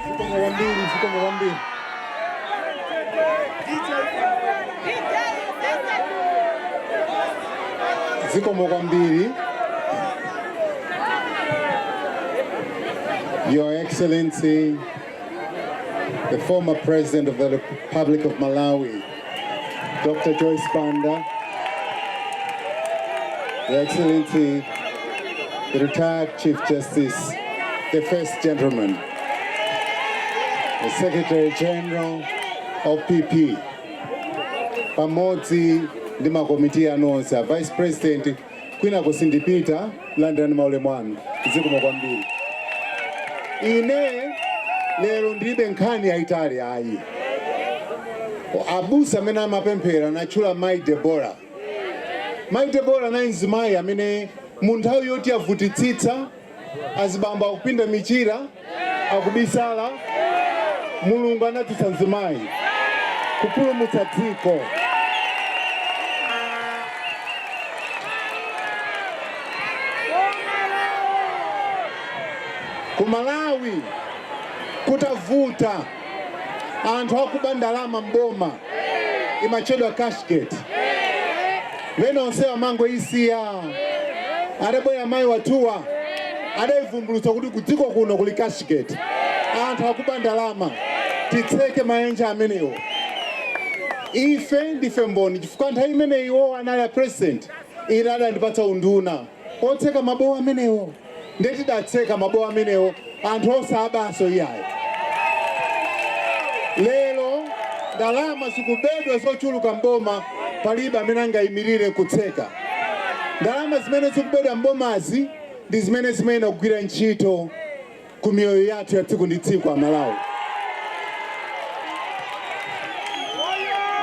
Zikomo kwambiri, zikomo kwambiri. Zikomo kwambiri. Your Excellency the former President of the Republic of Malawi, Dr. Joyce Banda, Your Excellency, the retired Chief Justice, the First Gentleman, the Secretary General of PP, pamodzi ndi makomiti anu onse a Vice President Kwinako sindipita, landirani maulemu anu. Zikomo kwambiri. Ine lero ndilibe nkhani yayitali ayi. Abusa amene amapemphera anatchula Mayi Debora. Mayi Debora anali mzimayi amene mu nthawi yoti yavutitsitsa azibambo akupinda michira akubisala mulungu anadzutsa mzimayi kupulumutsa dziko ku malawi kutavuta anthu akuba ndalama m'boma imatchedwa cashgate pena onse amangoisiya adabwera amayi wathuwa adayivumbulutsa kuti kudziko kuno kuli cashgate anthu akuba ndalama titseke mayenje amenewo ife ndife mboni chifukwa nthawi imene iwo anali a president ine adandipatsa unduna otseka mabowo amenewo nde tidatseka mabowo amenewo anthu osabanso iyayi. Lero ndalama zikubedwa zochuluka m'boma palibe amene angayimirire nkutseka. Ndalama zimene zikubedwa m'bomazi ndi zimene zimayenera kugwira ntchito ku miyoyo yathu ya tsiku ndi tsiku a Malawi.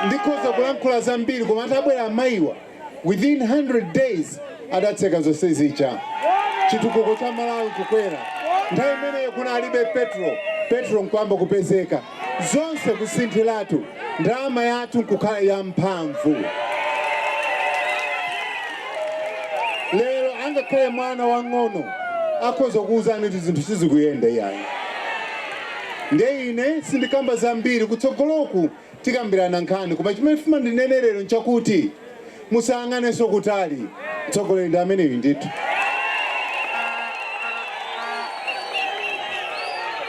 Ndikhoza kulankhula zambiri koma atabwera amayiwa. within 100 days adatseka zonse zija chitukuko cha malawi kukwera nthawi imeneyo kunalibe petro petro nkuyamba kupezeka zonse kusinthiratu ndalama yathu nkukhala ya mphamvu lero angakhale mwana wang'ono akhoza kuwuzani kuti zinthu sizikuyenda iyayi nde ine sindikamba zambiri kutsogoloku Tikambirana nkhani, koma chimene ndifuna ndinene lero nchakuti musayang'anenso kutali, mtsogoleri ndi ameneyu ndithu.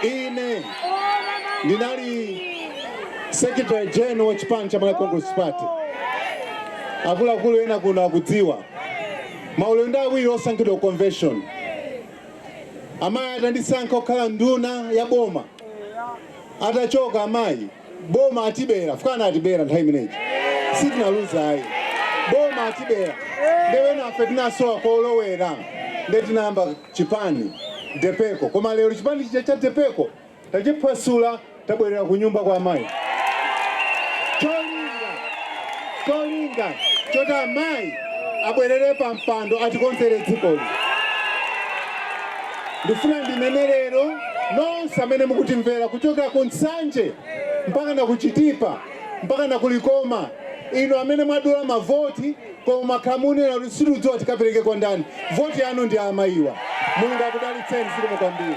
Ine ndinali secretary general wa chipani cha Malawi Congress Party, akuluakulu ena kuno akudziwa, maulendo awiri osankhidwa ku convention, amayi atandisankha kukhala nduna ya boma, atachoka amayi boma atibera chifukwa anatibera nthawi imene ija sitinaluza ayi boma atibera nde enafe tinasowa kolowera nde tinayamba chipani depeko koma lero chipani chija cha depeko tachiphwasula tabwerera ku nyumba kwa amayi cholinga cholinga choti amayi abwerere pa mpando atikonzere dzikoli Ndifuna ndinene lero, nonse amene mukutimvera kuchokera ku Nsanje mpakana ku Chitipa mpakana ku Likoma, inu amene mwadula mavoti koma mwakhala mukunena kuti sitikudziwa tikapereke kwa ndani, voti yanu ndi ya amayiwa. Mulungu akudalitseni zikomo kwambiri.